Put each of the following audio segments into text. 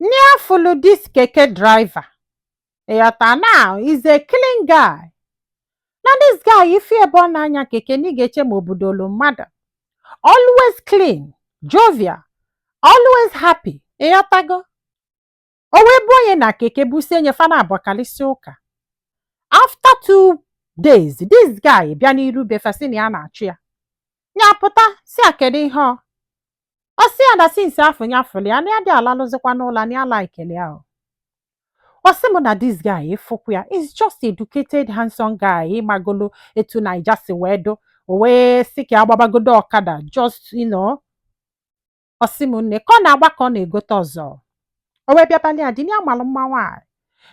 Nya afụlụ this keke driver. Ịghọta na is a clean guy. Na this guy ị fụ ebe ọ na-anya keke na ị ga-eche ma obodo olu mmadụ. Always clean, jovial, always happy. Ịghọtago? O wee bụ onye na keke busie nya fa na-abọ kalịsịa ụka. After two days, this guy bịa n'iru be fa sị na ya na-achọ ya. Nya apụta sị a kedu ihe ọ ọ sị ya na since afụ nya fụlụ ya na ya adị alalụzikwa ụla na ya likelụ ya o ọ sị m na this guy ị fụkwu ya is just educated handsome guy ịmagolo etu naija si wee dụ o wee sị ka ya gbabagodo ọkada just you know ọ sị m nne ka ọ na-agba ka ọ na-egote ọzọ o wee bịabalị ya di na ya malụ mma nwaanyị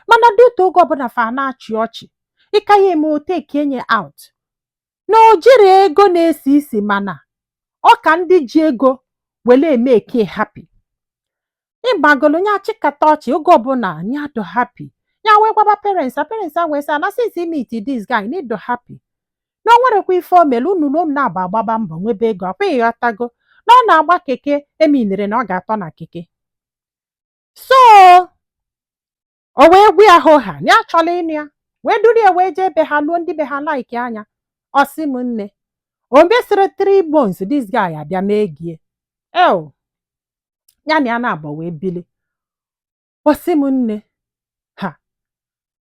mana dị otu oge ọbụla fa na-achị ọchị ịka ya eme ọ take nya out na o jirọ ego na-esi isi mana ọ ka ndị ji ego were emake ya happy ịmagolo nya achịkata ọchị oge ọbụla nya adụ happy ya wee gwaba parents a parents a wee sị na since i meet this guy na ị dụ happy na o nwerekwa ife o mere unu na unu na-abọ agbaba mbọ nwebe ego ọ kwa ịghọtago na ọ na-agba keke emeanere na ọ ga-atọ na keke so o wee gwa ya hoha na ya chọrọ ịnụ ya wee duru ya wee jee be ha luo ndị be ha like nya ọ sị m nne o mesịrị three months this guy abịa mee ego ya ya na ya na-abọ wee bili ọ sị m nne ha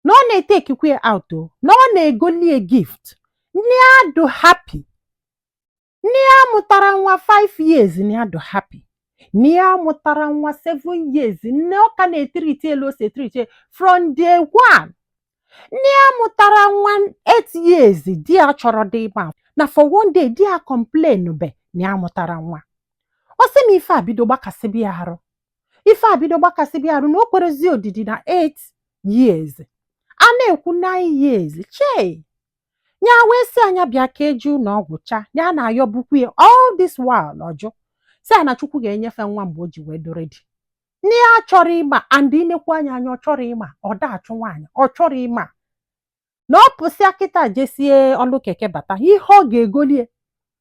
na ọ na-etakekwa ya out o na ọ na-egolie gift nya adụ happy Nya amụtara nwa 5 years nya adụ happy nya amụtara nwa 7 years nne ọ ka na-etreat ya etu o si etreat ya from day one nya amụtara nwa 8 years di ya achọrọdị ịma not for one day di ya acomplainbe na ya amụtara nwa ọ sị m ife abido gbakasịba ya arụ ife abido gbakasịba ya arụ na o kwerezi odidi na 8 years a na-ekwu 9 years chei nya wee sị ya nya bịa ka e jee ụnọ ọgwụ cha ya na-ayọbukwu ya all this while ọ jụ sị a na chukwu ga-enye fa nwa mgbe o ji wee dụ ready nya achọrọ ịma and i nekwu nya anya ọ chọrọ ịma ọ da achụ nwaanyị ọ chọrọ ịma na ọ pụsịa kịta jesie ọlụ keke bata ihe ọ ga-egolie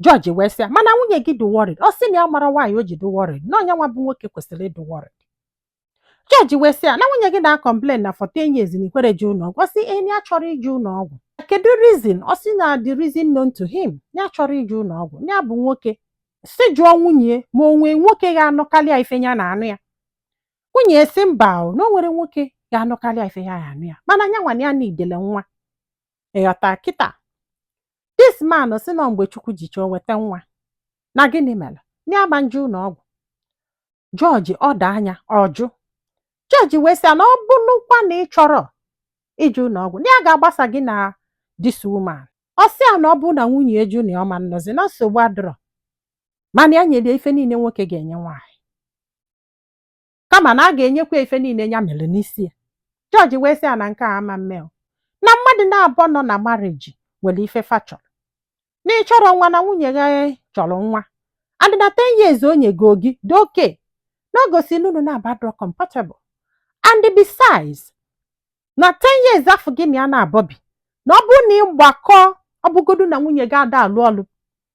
judge wee sị ya mana nwunye gị dị worried ọ sị na ya amara why o ji dị worried na ọ nya nwa bụ nwoke kwesịrị ịdị worried judge wee sị ya na nwunye gị na-acomplain na for ten years na i kwere jee ụlọ ọgwụ ọ sị ee nya achọrọ ije ụlọ ọgwụ kedu reason ọ sị na the reason known to him ya achọrọ ije ụlọ ọgwụ ya bụ nwoke sị jụọ nwunye ma o nwee nwoke ga-anụkarị ya ife ya na-anụ ya nwunye ya sị mba o na o nwere nwoke ga-anụkarị ya ife ya na-anụ ya mana nya nwa na ya needele nwa ịghọta kịta this man sị na mgbe chukwu ji chọọ weta nwa na gịnị mere na ya ama nje ụnọ ọgwụ judge order nya ọ jụ judge wee sị ya na ọ bụrụkwa na ị chọrọ ije ụnọ ọgwụ na ya ga-agbasa gị na this woman ọ sị ya na ọ bụrụ na nwunye ya jụ na ọ ma nnọzi na nsogbu adịrọ mana ya nyere ya ife niile nwoke ga-enye nwaanyị kama na a ga-enyekwa ife niile ya mere n'isi ya judge wee sị ya na nke a ama mme o na mmadụ naabọ nọ na marriage nwere ife fa chọrọ na ị chọrọ nwa na nwunye gị chọrọ nwa and na 10 years o nyego gị dị okay na o gosi na unu naabọ adịrọ compatible and besides na 10 years afọ gị na ya naabọ bi na ọ bụrụ na ị gbakọọ ọ bụgodu na nwunye gị ada alụ ọlụ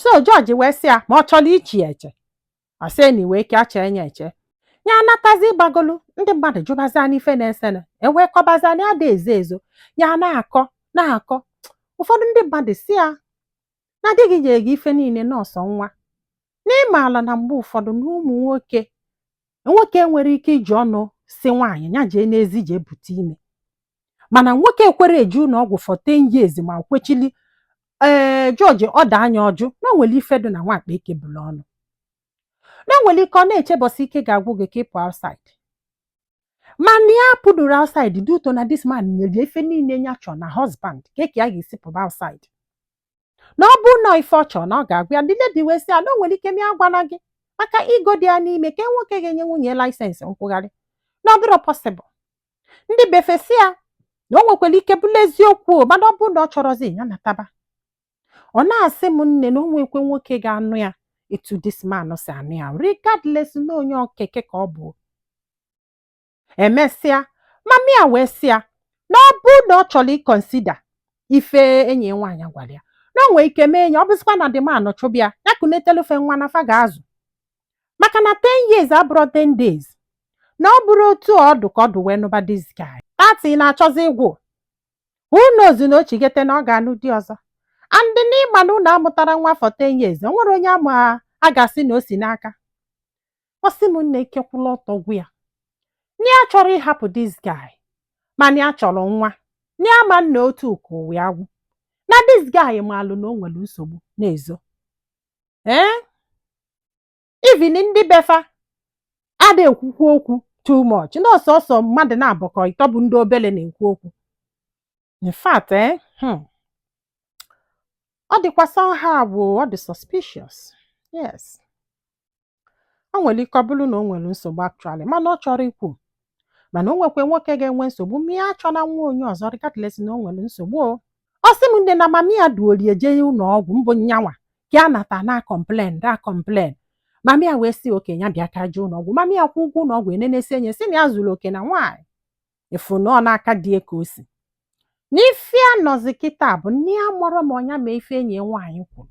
so judge wee sị ya ma ọ chọrọ iche ya eche ọ sị na iwe ike acha enye eche ya anatazi ịgbagolu ndị mmadụ jụbazi nya ife na-esene e wee kọbazi nya ada ezo ezo ya na-akọ na-akọ ụfọdụ ndị mmadụ sị ya na di gị nyere gị ife niile na ọ sọ nwa na ị maala na mgbe ụfọdụ na ụmụ nwoke nwoke enwerọ ike iji ọnụ sị nwaanyị ya jee n'ezi jee bute ime mana nwoke ekwerọ eje ụlọ ọgwụ for 10 years ma kwechili ee judge order nya ọ jụ na o nwere ife dị na nwakpa e kebulu ọnụ na o nwere ike ọ na-eche bọsị ike ga-agwụ gị ka ị pụ outside mana ya apụdụrọ outside due to na this man nwere ife niile ya chọrọ na husband kee ka ya ga-esi pụba outside na ọ bụrụ na ife ọ chọrọ na ọ ga-agwa ya the lady wee sị ya na o nwere ike mee ya agwana gị maka ego dị ya n'ime ka nwoke ga-enye nwunye license nkwụgharị na ọ dịrọ possible ndị befa sị ya na o nwekwara ike bụrụ eziokwu o, mana ọ bụrụ na ọ chọrọzi ya nataba ọ na-asị m nne na o nwekwe nwoke ga-anụ ya etu this man si anụ ya regardless na onye okeke ka ọ bụ emesịa mummy ya wee sị ya na ọ bụrụ na ọ chọrọ ị consider ife enyi ya nwaanyị gwara ya na o nwee ike mee nya ọ bụzikwa na the man chụba ya ya kunetelu fa nwa na fa ga-azụ maka na 10 years abụrọ 10 days na ọ bụrọ otu ọ dụ ka ọ dụ wee nụba this guy thirty na-achọzi ịgwụ who knows na o chigete na ọ ga-anụ di ọzọ and na ị ma na unu amụtarọ nwa for 10 years o nwere onye ama a ga-asị na o si n'aka ọ sị m nne ike kwụlụ ọtọ gwụ ya na ya achọrọ ịhapụ this guy mana ya chọrọ nwa na ya ama nnọ otu ka ụwa ya gwụ na this guy maalụ na o nwere nsogbu na-ezo ee even ndị befa ada ekwukwu okwu too much na ọ sọsọ mmadụ naabọ ka ọ ịtọ bụ ndị obele na-ekwu okwu in fact eh, hmm, ọ dịkwa somehow bụ ọ dị suspicious yes o nwere ike ọ bụrụ na o nwere nsogbu actually mana ọ chọrọ ikwu mana o nwekwa nwoke ga-enwe nsogbu ma ya achọna nwa onye ọzọ regardless na o nwere nsogbu o ọ sị m nne na mami ya duru ya jee ụlọ ọgwụ mbụ nyanwa ka a nata na-complain na-complain mami ya wee sị okay ya bịa ka e jee ụlọ ọgwụ mami ya kwụọ ụgwọ ụlọ ọgwụ e nenesịa nya sị na ya zuru oke na nwaanyị afụ na ọ n'aka di ya ka o si n'ife a nọzi kịta bụ na ya amarọ ma ọ nya mee ife enyi ya nwaanyị kwuru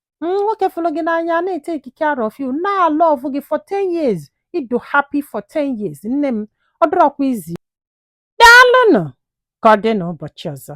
nwoke fụrụ gị n'anya na-etake care of you na-alove gị for 10 years ị dị happy for 10 years nne m ọ dịrọkwa easy daalụnụ ka ọ dị n'ụbọchị ọzọ